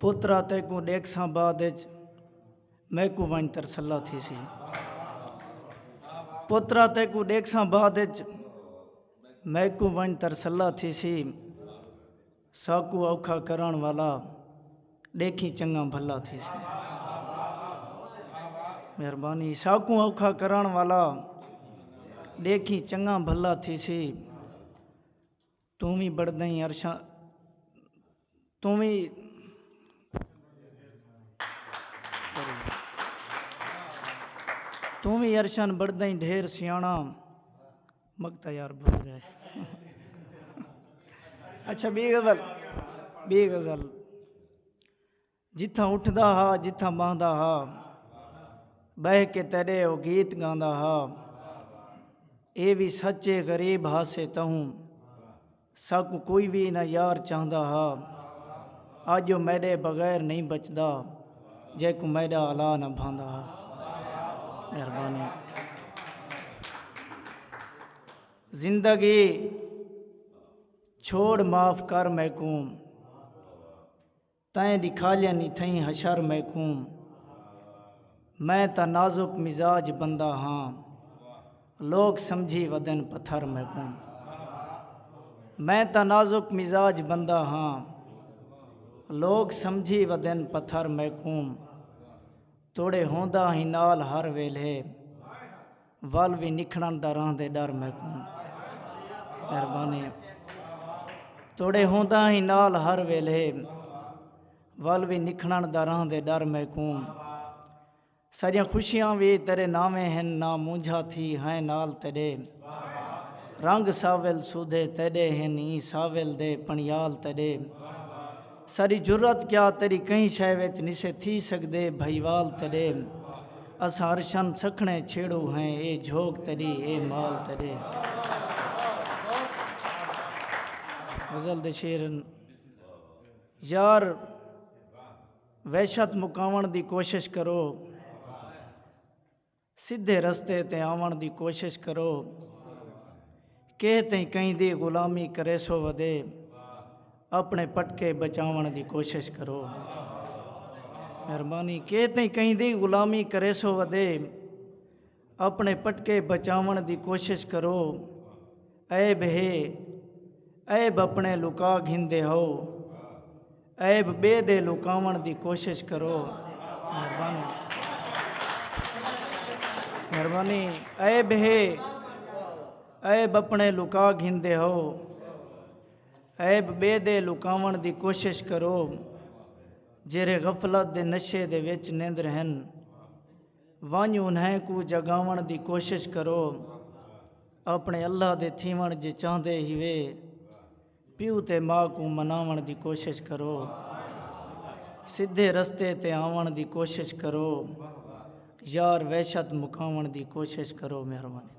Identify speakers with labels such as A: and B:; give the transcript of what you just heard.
A: پترا تیکوں ڈیکھساں بعد اچ میکوں ونج ترسلا تھیسی پترا تیکوں ڈیکھساں بعد اچ میکوں ونج ترسلا تھیسی ساکو اوکھا کرن والا ڈیکھی چنگا بھلا تھیسی مہربانی ساکوں اوکھا کرن والا ڈیکھی چنگا بھلا تھیسی توں وی بڑدئیں عرشاں توں وی۔ توں وی عرشاں بڑدئیں ڈھیر سیاݨا مڳ تاں یار بھل ڳئے اچھا ٻی غزل ٻی غزل۔ جتھاں اٹھدا ہا جتھاں ٻہندا ہا ٻہہ کے تیݙے او گیت ڳاندا ہا اے وی سچ اے غریب ہاسے تہوں ساکوں کوئی وی نہ یار چاہندا ہا اڄ او میݙے بغیر نہیں بچدا جیکوں میݙا الا نہ بھاندا ہا مہربانی زندگی چھوڑ معاف کر میکوں تئیں ݙکھالیاں نی تھئیں حشر میکوں میں تاں نازک مزاج بندہ ہاں لوک سمجھی ودن پتھر میکوں میں تاں نازک مزاج بندہ ہاں لوک سمجھی ودن پتھر میکوں۔ توڑے ہوندا ہیں نال ہر ویلھے ول وی نکھڑن دا رہندے ڈر میکوں مہربانی توڑے ہوندا ہیں نال ہر ویلھے ول وی نکھڑن دا رہندے ڈر میکوں ساریاں خوشیاں وی تیرے ناویں ہن نا مونجھا تھی ہیں نال تیڈے رنگ ساول سودھے تیڈے ہن ایں ساول دے پنیال تیڈے ساݙی جرات کیا تیݙی کہیں شئے وچ نسے تھی سڳدے بھئیوال تیݙے اساں ارشاں سکھݨے چھیڑو ہیں اے جھوک تیݙی اے مال تیݙے غزل دے شعر ہن یار وحشت مکاوݨ دی کوشش کرو۔ سدھے رستے تے آوݨ دی کوشش کرو کیہ تئیں کہیں دی غلامی کریسو ودے اپݨے پٹکے بچاوݨ دی کوشش کرو مہربانی کیہ تئیں کہیں دی غلامی کریسو ودے اپݨے پٹکے بچاوݨ دی کوشش کرو عیب ہے عیب اپݨے لکا گھندے ہو عیب ٻئے دے لکاوݨ دی کوشش کرو مہربانی عیب ہے عیب اپݨے لکا گھندے ہو عیب ٻئے دے لکاوݨ دی کوشش کرو جیرھے غفلت دے نشے دے وچ نیندر ہن ونج انہیں کو جگاوݨ دی کوشش کرو اپنے اللہ دے تھیوݨ جے چاہندے ہیوے پیو تے ماء کوں مناوݨ دی کوشش کرو۔ سدھے رستے تے آوݨ دی کوشش کرو۔ یار وحشت مکاوݨ دی کوشش کرو۔ مہربانی۔